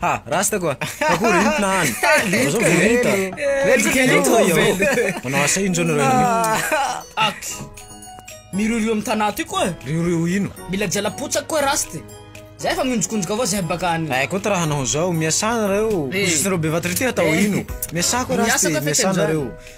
Ha, rasta koa. Akory intina hany. Aza vorinta. Manao asa ino zao nareo io? Ak. Miriorio amin'ny tanà ty koa. Riorio ino? Mila jalapotsaka koa rasta. Zay fa mionjokonjoka avao zay baka any. Eh, koa raha hanao zao, miasà nareo. Koa eh. nareo be vatry ty atao eh. ino? Miasà koa rasta, miasà nareo.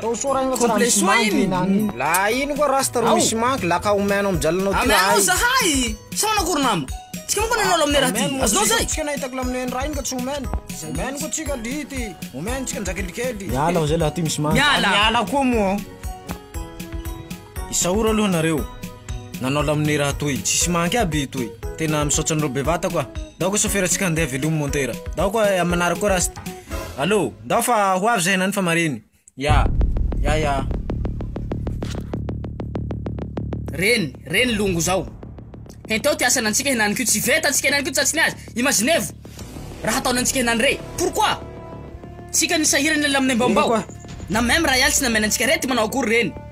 Complet soa iny La ino koa rasta ro misy manky la ka omeo anao mijaly anao ty raha zahay Sa manao akory nama Tsika manko anao lamine raha ty Azonao zay Tsika nahitako lamine ny raha iny ka tsy omeny Omeny koa tsika ry ty Omeny tsika ny jakelikely Miala fa zay la ty misy manky Miala Miala koa moa. Isaoro aloha nareo nanao laminera atoy tsisy manky aby itoy tena misaotra anareo bevata koa ndao koa sofera tsika andeha velomy montera ndao koa eh, amanara koa rasta allo ndao fa ho avy zay nany fa mariny ya ya ya reny reny longo zao henteo ty asana antsika henany ko tsy veta antsika henany ko tsy atsiny azy imaginevo raha ataony antsika henany re pourquoi tsika nisahirana ilay laminembambao na meme raha ialtsy namena antsika rety manao akory reny